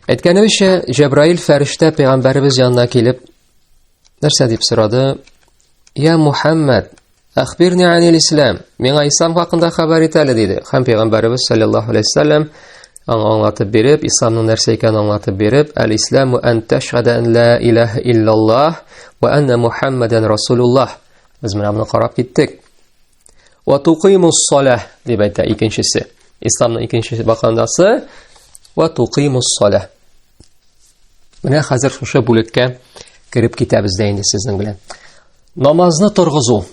Әйткәнебезчә, Җәбраил фәрештә пәйгамбәребез янына килеп, нәрсә дип сорады? Я Мухаммад, ахбирни анил ислам, миңа ислам хакында хәбәр ит әле диде. Хәм пәйгамбәребез саллаллаһу алейһи вәсәлләм аңа аңлатып биреп, исламның нәрсә икәнен аңлатып биреп, әл-исламу ан тәшһәдә ан ла илаһа иллаллаһ ва анна Мухаммадан расулуллаһ. Без менә моны карап киттек. Ва туқимус саля дип әйтә икенчесе. Исламның икенчесе бакандасы ва туқимус саля. Менә хәзер шушы бүлеккә кереп китәбез дә инде сезнең белән. Намазны торгызу,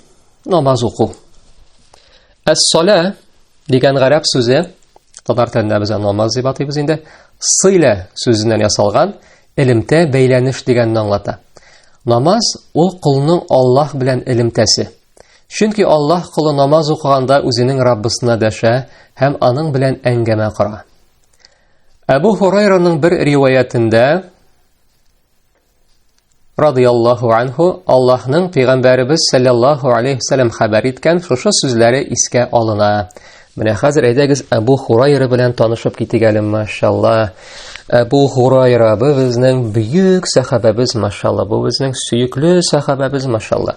намаз уку. Әс-салә дигән гарәп сүзе татар телендә без намаз дип атыйбыз инде. Сыйлә сүзеннән ясалган элемтә бәйләнеш дигәнне аңлата. Намаз ул кулның Аллаһ белән элемтәсе. Чөнки Аллаһ колы намаз укыганда үзенең Раббысына дәшә һәм аның белән әңгәмә кора. Әбу Хурайраның бер риваятендә радиаллаху анху Аллаһның пәйгамбәребез саллаллаху алейхи вәсәлләм хәбәр иткән шушы сүзләре искә алына. Менә хәзер әйдәгез Әбу Хурайра белән танышып китик әле, машалла. Әбу Хурайра бу безнең бөек сахабәбез, машалла. Бу безнең сөекле сахабәбез, машалла.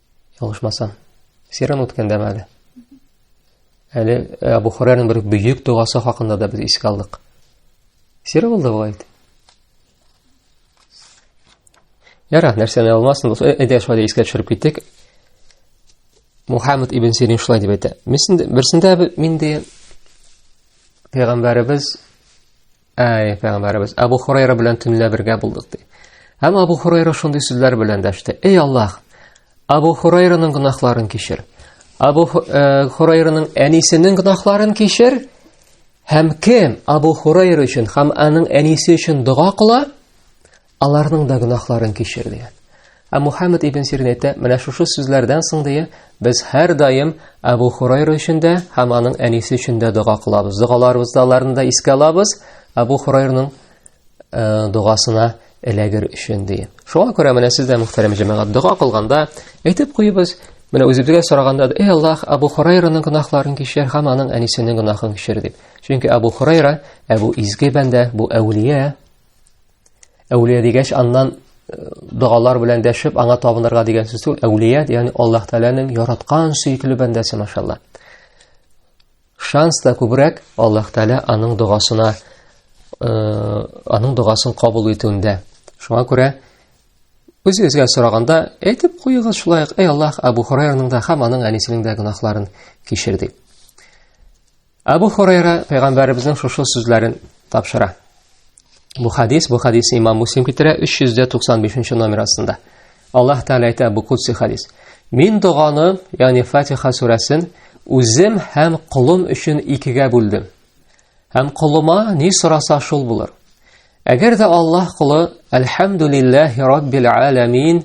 Ялгышмасам, сиран үткәндәме әле? Әле э, Абу Хурайраның бер бөек догасы хакында да без искә алдык. Сиры булды бу әйт. Яра, нәрсәне алмасын, э, әйдә шулай искә төшереп киттек. Мухаммед ибн Сирин шулай дип әйтә. Мисен берсендә минде пәйгамбәребез Әй, пәйгамбәребез, Абу Хурайра белән төнлә бергә булдык ди. Һәм Абу Хурайра шундый сүзләр белән дәште. Эй Аллаһ, Абу Хурайраның гөнаһларын кичер. Абу э, Хурайраның әнисенең гөнаһларын кичер. Һәм кем Абу Хурайра өчен һәм аның әнисе өчен дога кыла, Аларның да гөнаһларын кичер дигән. Ә Мухаммед ибн Сирин әйтә, менә шушы сүзләрдән соң дия, без һәр даим Абу Хурайра өчен дә һәм аның әнисе өчен дә дога кылабыз. Догаларыбызда аларны да искә алабыз. Абу Хурайраның э, догасына эләгер өчен ди. Шуңа күрә менә сез дә мөхтәрәм җәмәгать дога кылганда әйтеп куйбыз, Менә үзебезгә сораганда, "Эй Аллаһ, Абу Хурайраның гөнаһларын кичер һәм аның әнисенең гөнаһын кичер" дип. Чөнки Абу Хурайра, Абу изге бәндә, бу әүлия, Әүлия дигәч, аннан э, догалар белән дәшеп, аңа табынырга дигән сүз түгел. Әүлия, ягъни Аллаһ Тәгаләнең яраткан сөекле бәндәсе, машалла. Шанс та күбрәк Аллаһ Тәгалә аның догасына, э, аның догасын кабул итүендә. Шуңа күрә Үз-үзгә сораганда, әйтеп куегыз шулай ук, эй Аллаһ, Абу Хурайраның да һәм аның әнисенең дә гөнаһларын кичер дип. Абу Хурайра пәйгамбәребезнең шушы сүзләрен тапшыра. Бу хадис, бу хадис имам Муслим китерә 395 номер астында. Аллаһ Тәгалә әйтә бу кутси хадис. Мин доганы, ягъни Фатиха сүрәсен үзем һәм кулым өчен икегә бүлдем. Һәм кулыма ни сораса шул булыр. Әгәр дә Аллаһ кулы Әлхәмдулиллахи раббил аламин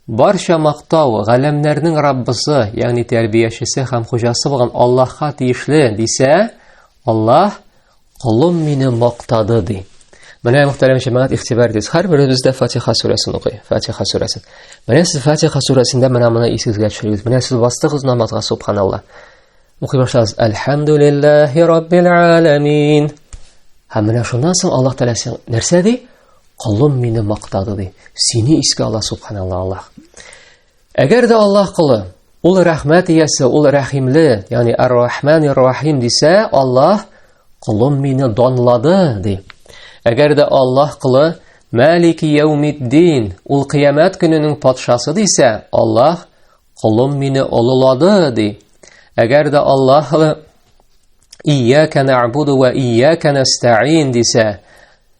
Барча мактау галәмнәрнең Раббысы, ягъни тәрбиячесе һәм хуҗасы булган Аллаһка тиешле, дисә, Аллаһ колым мине мактады ди. Менә мөхтәрәм җәмәгать игътибар итегез. Һәрберебез дә Фатиха сүрәсен укый. Фатиха сүрәсен. Менә сез Фатиха сүрәсендә менә моны исегезгә төшерегез. Менә сез бастыгыз намазга, субханалла. Укый башлагыз. Әлхәмдүлиллаһи раббил аламин. Һәм менә шуннан соң Аллаһ Тәгалә нәрсә ди? Колым мине мактады ди. Сине искә ала субханалла Аллаһ. Әгәр дә Аллаһ колы ул рәхмәт иясе, ул рәхимле, ягъни Ар-Рахман Ар-Рахим дисә, Аллаһ колым мине данлады ди. Әгәр дә Аллаһ кылы Малики яумиддин, ул кыямәт көненең патшасы дисә, Аллаһ кулым мине олылады ди. Әгәр дә Аллаһ Ияка нәгъбуду ва ияка нәстәин дисә,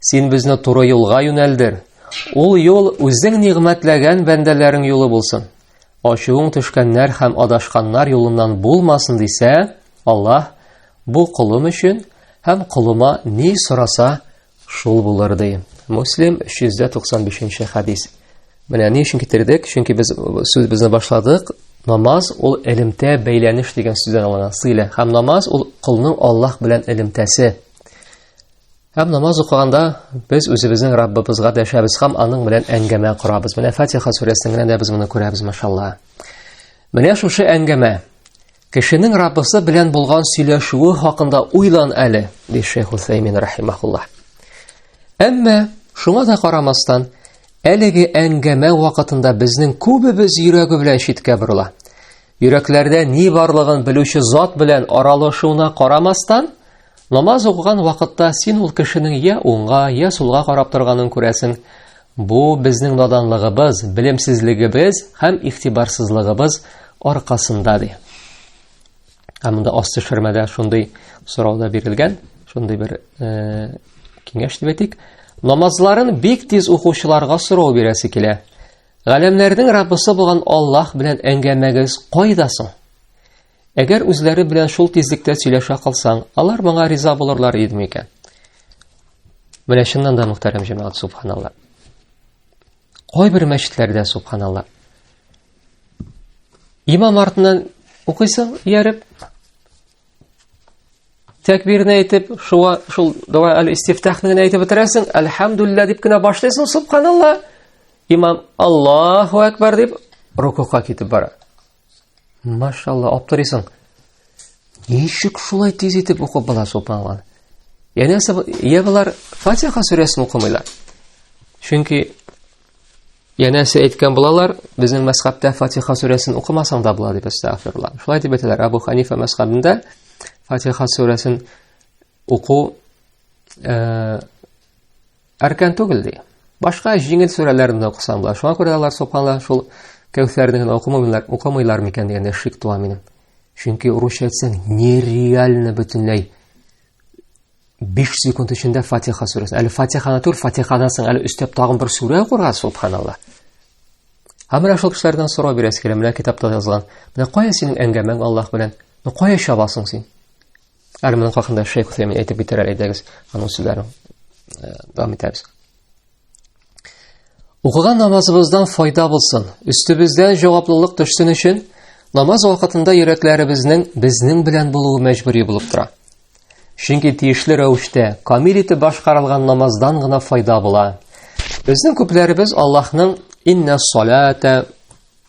Син безне туры юлга юнәлдер. Ул юл үзең нигъмәтләгән бәндәләрең юлы булсын. Ачуың төшкәннәр һәм адашканнар юлыннан булмасын дисә, Аллаһ бу кулым өчен һәм кулыма ни сораса, шул булыр ди. Муслим 395-нче хадис. Менә ни өчен китердек? Чөнки без сүз безне башладык. Намаз ул элемтә бәйләнеш дигән сүздән алына, сыйлә. Һәм намаз ул кулның Аллаһ белән элемтәсе. Һәм намаз укыганда без үзебезнең Раббыбызга дәшәбез һәм аның белән әңгәмә корабыз. Менә Фатиха сүрәсендә дә без моны күрәбез, машалла. Менә шушы әңгәмә кешенең Раббысы белән булган сөйләшүе хакында уйлан әле, ди Шейх Усаймин рахимахуллаһ. Әмма шуңа да карамастан, әлеге әңгәмә вакытында безнең күбебез йөрәге белән читкә борыла. Йөрәкләрдә ни барлыгын белүче зат белән аралашуына карамастан, Намаз укыган вакытта син ул кешенең я уңга, я сулга карап торганын күрәсең. Бу безнең наданлыгыбыз, белемсезлегебез һәм ихтибарсызлыгыбыз аркасында ди. Ә монда асты шермәдә шундый сорау да бирелгән, шундый бер э, киңәш дип әйтик. Намазларын бик тиз укучыларга сорау бирәсе килә. Галәмнәрнең Раббысы булган Аллаһ белән әңгәмәгез кайда соң? Әгәр үзләре белән шул тизлектә сөйләшә калсаң, алар моңа риза булырлар иде микән? Менә чыннан да мөхтәрәм җәмәгать, субханалла. Кайбер мәчетләрдә субханалла. Имам артыннан укыйсың, ияреп, тәкбирне әйтеп, шуа, шул дава әл-истифтахны генә әйтеп бетерәсең, әлхәмдулилла дип кенә башлыйсың, субханалла. Имам Аллаһу әкбар дип рукуга китеп бара. Машалла, аптырыйсың. Ничек шулай тиз итеп укып була субханалла. Яне я булар Фатиха сүрәсен укымыйлар. Чөнки янәсе әйткән булалар, безнең мәсхабтә Фатиха сүрәсен укымасаң да була дип әстәгфирулла. Шулай дип әйтәләр Абу Ханифа мәсхабында Фатиха сүрәсен уку э Әркән түгел, ди. Башка җиңел сүрәләрне дә укысам була. Шуңа күрә алар сукала, шул Кәүсәрне генә укымыйлар, укымыйлар микән дигәндә шик туа минем. Чөнки урысча әйтсәң, нереально бөтенләй 5 секунд эчендә Фатиха сүрәсен. Әле Фатиханы түр, Фатихадан соң әле өстәп тагын бер сүрә укырга, субханалла. Һәм менә шул кешеләрдән сорау бирәсе килә, менә китапта язылган. Менә кая синең әңгәмәң Аллаһ белән? Ну кая чабасың син? Әле моның хакында Шейх Усәймин әйтеп китәр әле әйдәгез, аның сүзләрен э, дәвам итәбез. Укыган намазыбыздан файда булсын. Өстебездә җаваплылык төшсен өчен намаз вакытында йөрәкләребезнең безнең белән булуы мәҗбүри булып тора. Чөнки тиешле рәвештә камил итеп башкарылган намаздан гына файда була. Безнең күпләребез Аллаһның инна салата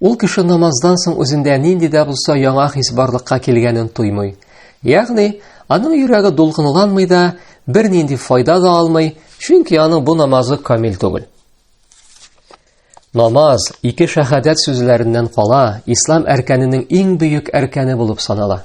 Ул кеше намаздан соң үзендә нинди дә булса яңа хис барлыкка килгәнен тоймый. Ягъни, аның йөрәге дулкынланмый да, бернинди файда да алмый, чөнки аның бу намазы камил түгел. Намаз ике шәһадәт сүзләреннән кала, ислам әркәненең иң бөек әркәне булып санала.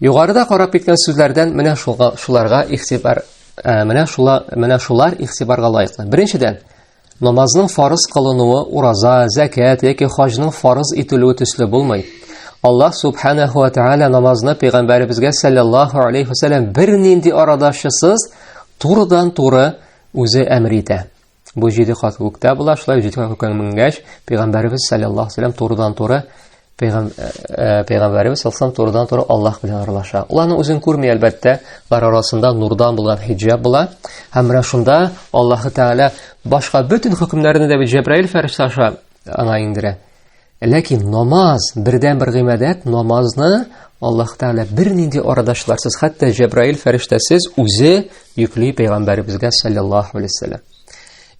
Югарыда карап киткән сүзләрдән менә шуга шуларга игътибар ә, менә шула менә шулар игътибарга лаеклы. Беренчедән, намазның фарыз кылынуы ураза, зәкят яки хаҗның фарыз ителүе төсле булмый. Аллаһ субханаһу ва тааля намазны пәйгамбәребезгә саллаллаһу алейхи ва саллям бернинди арадашысыз турыдан-туры үзе әмер итә. Бу җиде кат күктә була, шулай җиде кат күккә менгәч, пәйгамбәребез саллаллаһу алейһи турыдан-туры пәйгамбәребез саллаллаһу турыдан-туры Аллаһ белән аралаша. Ул аны үзен күрми, әлбәттә, бар арасында нурдан булган хиҗаб була. Һәм менә шунда Аллаһ Тәгалә башка бөтен хөкемнәрне дә бит Җәбраил фәрештә аша аңа иңдерә. Ләкин намаз, бердән бер гыйбадәт, намазны Аллаһ Тәгалә бернинди арадашларсыз, хәтта Җәбраил фәрештәсез үзе йөкли пәйгамбәребезгә саллаллаһу алейһи вәсәлләм.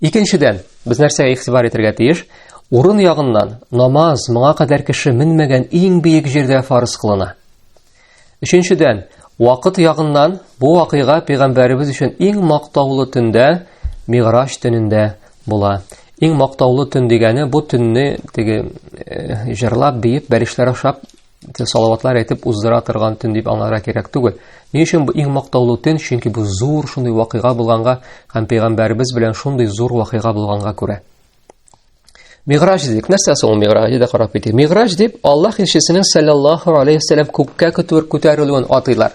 Икенчедән, без нәрсәгә игътибар итәргә тиеш? Урын ягыннан намаз моңа кадәр кеше менмәгән иң биек җирдә фарыз кылына. Өченчедән, вакыт ягыннан бу вакыйга пәйгамбәребез өчен иң мактаулы төндә, Миграч төнендә була. Иң мактаулы төн дигәне бу төнне теге э, җырлап, биеп, бәришләр ашап, салаватлар әйтеп уздыра торган төн дип аңларга кирәк түгел. Ни өчен бу иң мактаулы төн? Чөнки бу зур шундый вакыйга булганга һәм пәйгамбәребез белән шундый зур вакыйга булганга күрә. Миграҗ дидек. Нәрсә соң ул миграҗ диде карап китик. Миграҗ дип Аллаһ илчесенең саллаллаһу алейхи вассалам күккә күтәрү күтәрелүен атыйлар.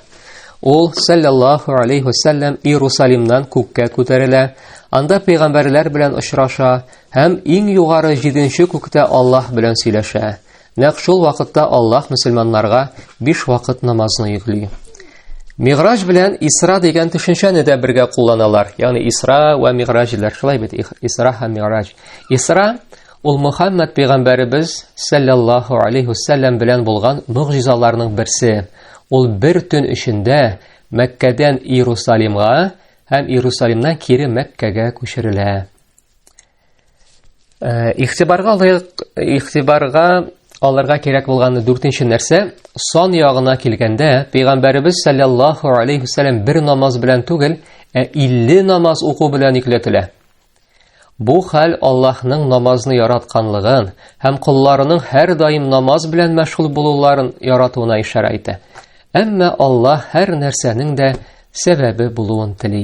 Ул саллаллаһу алейхи вассалам Иерусалимнан күккә күтәрелә. Анда пәйгамбәрләр белән очраша һәм иң югары 7нче күктә Аллаһ белән сөйләшә. Нәкъ шул вакытта Аллаһ мөселманнарга биш вакыт намазны йөкли. Миграҗ белән Исра дигән төшенчәне дә бергә кулланалар. Ягъни Исра ва Миграҗ диләр. Шулай бит Исра һәм Миграҗ. Исра ул Мухаммад пәйгамбәребез саллаллаһу алейхи вассалам белән булган мөгъҗизаларның берсе. Ул бер төн эчендә Мәккәдән Иерусалимга һәм Иерусалимнан кире Мәккәгә күчерелә. Э, игътибарга лаек игътибарга алырга кирәк булган дүртенче нәрсә сон ягына килгәндә пәйгамбәребез саллаллаху алейхи вәсәләм бер намаз белән түгел ә илле намаз уку белән йөкләтелә бу хәл аллаһның намазны яратканлыгын һәм колларының һәрдаим намаз белән мәшгуль булуларын яратуына ишарә итә әмма аллаһ һәр нәрсәнең дә сәбәбе булуын тели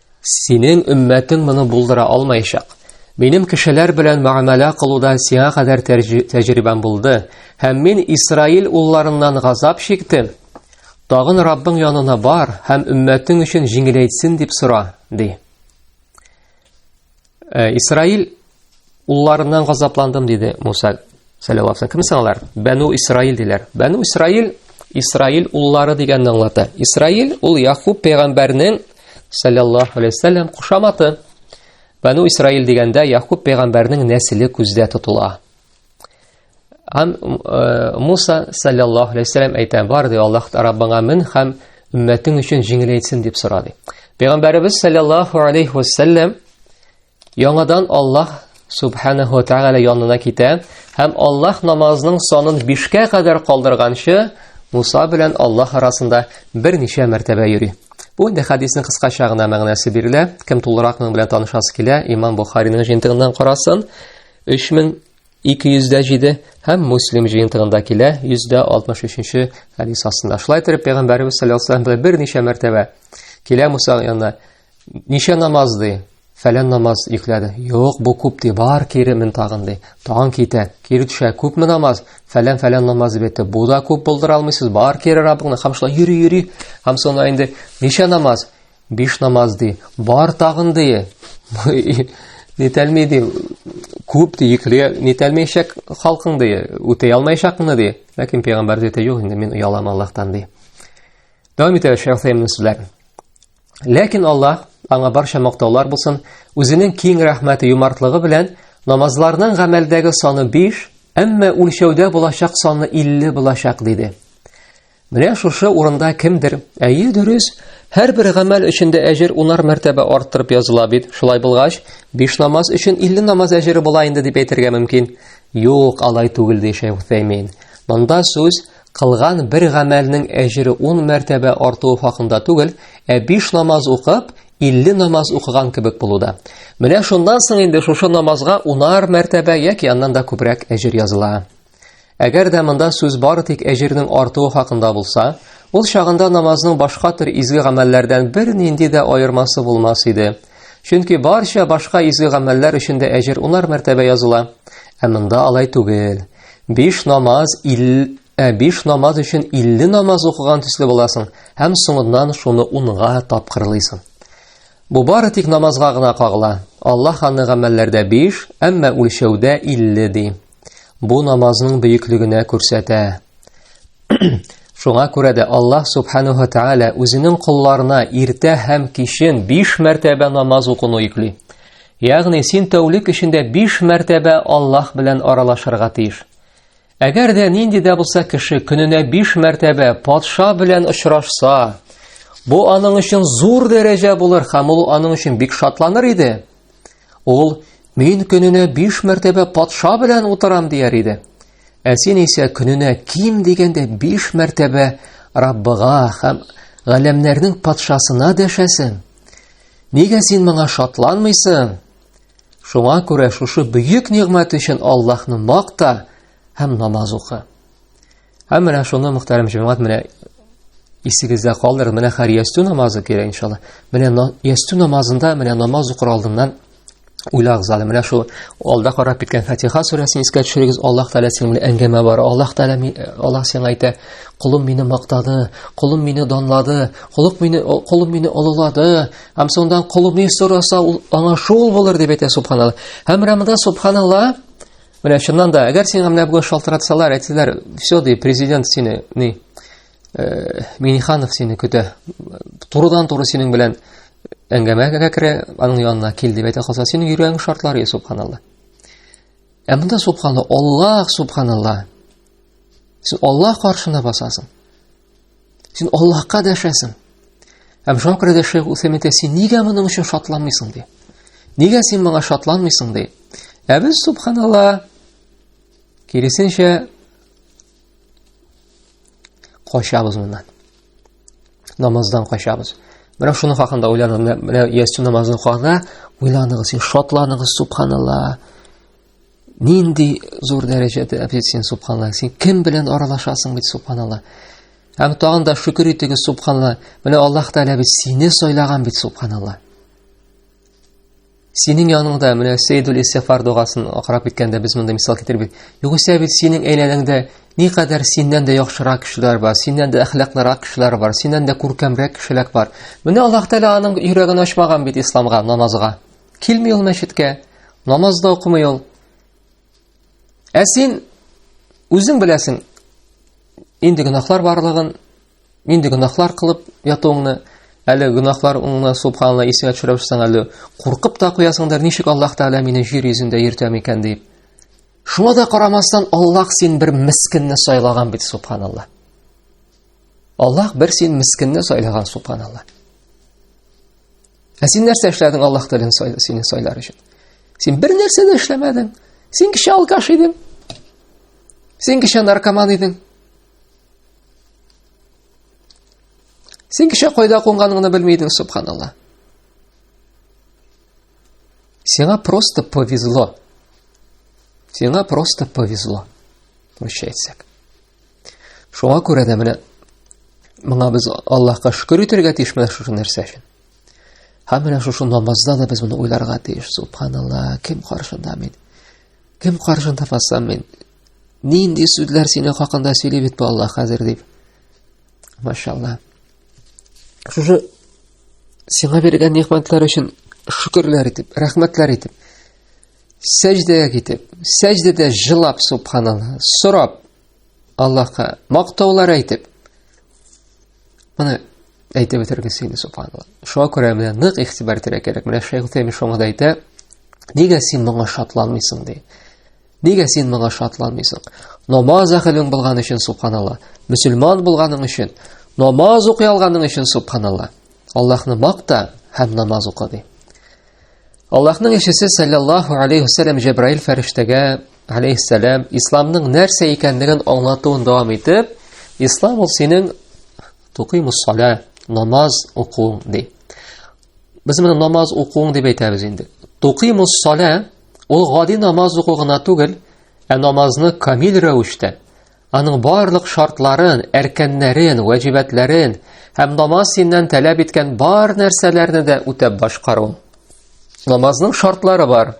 Синең өммәтең моны булдыра алмаячак. Минем кешеләр белән мәгамәлә кылуда сиңа кадәр тәҗрибәм булды, һәм мин Исраил улларыннан газап чиктем. Тагын Раббың янына бар һәм өммәтең өчен җиңеләйтсен дип сора, ди. Э, Исраил улларыннан газапландым диде Муса сәләватсың. Кем алар? Бәну Исраил диләр. Бәну Исраил Исраил уллары дигәнне аңлата. Исраил ул Якуб пәйгамбәрнең саллаллаху алейхи вәсәлләм кушаматы. Бәну Исраил дигәндә Якуб пәйгамбәрнең нәселе күздә тотыла. Һәм э, Муса саллаллаһу алейһи вәсәлләм әйтә, бар ди Аллаһ Раббыңа мин һәм өммәтең өчен җиңеләйтсен дип сорады. Пәйгамбәребез саллаллаһу алейһи вәсәлләм яңадан Аллаһ субханаһу ва тааля янына китә һәм Аллаһ намазының санын 5-кә кадәр калдырганчы Муса белән Аллаһ арасында берничә мәртәбә йөри. Бу инде хадисның кыскача гына мәгънәсе бирелә. Кем тулырак моның белән танышасы килә, Имам Бухариның җентыгыннан карасын. 3207 һәм Муслим җыентыгында килә 163-нче хадис астында. Шулай итеп пәйгамбәребез саллаллаһу алейһи ва саллям берничә мәртәбә килә Муса янына. Ничә намаз ди? Фәлән намаз йөкләде. Юк, бу күп ди, бар кире мен тагын ди. Тагын китә, кире төшә, күпме намаз? Фәлән фәлән намаз дип әйтте. Бу да күп булдыра алмыйсыз, бар кире Раббыңны, һәм шулай йөри йөри. Һәм соңына инде ничә намаз? Биш намаз ди. Бар тагын ди. Нетәлми ди. Күп ди, йөкле нетәлмәйчәк халкың ди. Үтәй алмаячакны ди. Ләкин пәйгамбәр ди, юк инде, мин оялам Аллаһтан ди. Дәвам итәбез Шәйх Сәймин сүзләр. Ләкин Аллаһ аңа барча мактаулар булсын, үзенең киң рәхмәте юмартлыгы белән намазларның гамәлдәге саны 5, әмма үлчәүдә булачак саны 50 булачак диде. Менә шушы урында кемдер, әйе дөрес, һәрбер гамәл өчен дә әҗер унар мәртәбә арттырып языла бит. Шулай булгач, биш намаз өчен 50 намаз әҗере була инде дип әйтергә мөмкин. Юк, алай түгел ди Шәйх Утәймин. Монда сүз кылган бер гамәлнең әҗере 10 мәртәбә артуы хакында түгел, ә биш намаз укып, 50 намаз укыган кебек булуда. Менә шуннан соң инде шушы намазга унар мәртәбә яки аннан да күбрәк әҗер языла. Әгәр дә монда сүз бары тик әҗирнең артуы хакында булса, ул чагында намазның башка төр изге гамәлләрдән бернинди дә аермасы булмас иде. Чөнки барча башка изге гамәлләр өчен дә әҗир унар мәртәбә языла. Ә монда алай түгел. Биш намаз ил ә биш намаз өчен 50 намаз укыган төсле буласың һәм соңыннан шуны унга тапкырлыйсың. Бу бары тик намазга гына кагыла. Аллаһ аны гамәлләрдә 5, әмма үлчәүдә 50 ди. Бу намазның бөеклегенә күрсәтә. Шуңа күрә дә Аллаһ Субханаһу Тааля үзенең колларына иртә һәм кичен 5 мәртәбә намаз укуны йөкли. Ягъни син тәүлек эчендә 5 мәртәбә Аллаһ белән аралашырга тиеш. Әгәр дә нинди дә булса кеше көненә 5 мәртәбә патша белән очрашса, бу аның өчен зур дәрәҗә булыр һәм ул аның өчен бик шатланыр иде. Ул, мин көненә биш мәртәбә патша белән утырам дияр иде. Ә син исә көненә ким дигәндә биш мәртәбә Раббыга һәм галәмнәрнең патшасына дәшәсең. Нигә син моңа шатланмыйсың? Шуңа күрә шушы бөек нигъмәт өчен Аллаһны макта һәм намаз укы. Һәм менә шуны мөхтәрәм җәмәгать менә исегездә калдыр, менә хәр ястү намазы кирәк иншалла. Менә ястү намазында менә намаз укыр алдыннан уйлагыз әле. Менә шул алда карап киткән Фатиха сүрәсен искә төшерегез. Аллаһ Тәгалә синең белән әңгәмә бар. Аллаһ Тәгалә э, Аллаһ сиңа әйтә: "Кулым мине мактады, кулым мине данлады, кулым мине кулым мине олылады. Һәм соңдан кулым ни сораса, ул аңа шул булыр" дип әйтә Субханалла. Һәм Рамада Субханалла Менә чыннан да, әгәр сиңа менә бүген шалтыратсалар, әйтсәләр, все, ди, президент сине, ни, э, Миниханов сине көтә, турыдан-туры синең белән әңгәмәгә керә, аның янына кил дип әйтә калса, синең йөрәгең шартлар, субханалла. Ә монда субханалла, Аллаһ субханалла. Син Аллаһ каршына басасың. Син Аллаһка дәшәсең. Һәм шуңа күрә дә Шәйх Усәймин син нигә моның өчен шатланмыйсың ди. Нигә син моңа шатланмыйсың ди. Ә без субханалла киресенчә качабыз моннан. Намаздан качабыз. Менә шуның хакында уйланып, менә ястү намазының хакында уйланыгыз, шатланыгыз, субханалла. Нинди зур дәрәҗәдә әбдит син, субханалла. Син кем белән аралашасың бит, субханалла. Һәм тагын да шөкер итегез, субханалла. Менә Аллаһ Тәгалә бит сине сайлаган бит, субханалла. Синең яныңда менә Сейдул Истифар дугасын акырап киткәндә без монда мисал китереп бит. Югыйсә бит синең әйләнәңдә никадәр синнән дә яхшырак кешеләр бар, синнән дә әхлаклырак кешеләр бар, синнән дә күркәмрәк кешеләр бар. Менә Аллаһ Тәгалә аның йөрәген ачмаган бит исламга, намазга. Килми ул мәчеткә, намаз да укымый ул. Ә син үзең беләсең, инде гөнаһлар барлыгын, инде гөнаһлар кылып ятуыңны, әле гөнаһлар уңны субханла исеңә төшерәсең әле, куркып та куясыңдыр, ничек Аллаһ Тәгалә мине җир йөзендә йөртә микән дип. Шуңа да карамастан Аллаһ син бер мискинне сайлаган бит субханалла. Аллаһ бер син мискинне сайлаган субханалла. Ә син нәрсә эшләдең Аллаһ телен сине сайлар өчен? Син бер нәрсә дә эшләмәдең. Син кеше алкаш идең. Син кеше наркоман идең. Син кеше кайда кунганыңны белми идең, субханалла. Сиңа просто повезло. Сиңа просто повезло. Прощайтесь. Шуңа күрә дә менә моңа без Аллаһка шөкер итәргә тиеш менә шушы нәрсә өчен. Һәм менә шушы намазда да без моны уйларга тиеш. Субханалла, кем каршында мин? Кем каршында басам мин? Нинди сүзләр синең хакында сөйли бит бу Аллаһ хәзер дип. Машалла. Шушы сиңа биргән нигъмәтләр өчен шөкерләр итеп, рәхмәтләр итеп. сәҗдәгә китеп, сәҗдәдә җылап субханалла, сорап Аллаһка мактаулар әйтеп, моны әйтеп бетергесе инде субханалла. Шуңа күрә менә нык игътибар итәргә кирәк. Менә Шәйх Утәйми шуңа да әйтә, нигә син моңа шатланмыйсың ди. Нигә син моңа шатланмыйсың? Намаз әхелең булган өчен субханалла, мөселман булганың өчен, намаз укый алганың өчен субханалла. Аллаһны макта һәм намаз укы ди. Аллаһның илчесе саллаллаху алейхи вассалам Җәбраил фәрештәгә алейхиссалам исламның нәрсә икәнлеген аңлатуын дәвам итеп, ислам ул синең тукимус сала, намаз укуың ди. Без моны намаз укуың дип әйтәбез инде. Тукимус сала ул гади намаз уку гына түгел, ә намазны камил рәвештә, Аның барлык шартларын, әркәннәрен, вәҗибәтләрен һәм намаз синнән таләп иткән бар нәрсәләрне дә үтәп башкару. Намазның шартлары бар.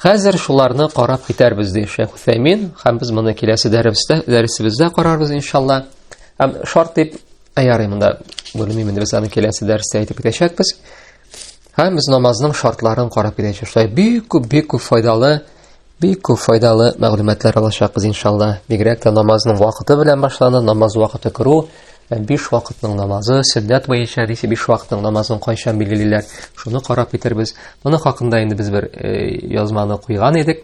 Хәзер шуларны карап китәрбез ди Шәйх Усәймин, һәм без моны киләсе дәрестә, дәресебездә карарбыз иншалла. Һәм шарт дип аярый монда белмим инде без аны киләсе дәрестә әйтеп китәчәкбез. Һәм без намазның шартларын карап китәчәкбез. Бик күп, бик күп файдалы Бик күп файдалы мәгълүматлар алачакбыз иншалла. Бигрәк тә намазның вакыты белән башлана, намаз вакыты керү, биш вакытның намазы, сөннәт буенча дисә биш вакытның намазын кайчан билгелиләр, шуны карап китербез. Моны хакында инде без бер э, язманы куйган идек.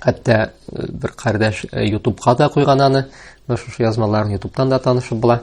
Хәтта э, бер кардәш э, ютубка да куйган аны. Шушы язмаларын ютубтан да танышып була.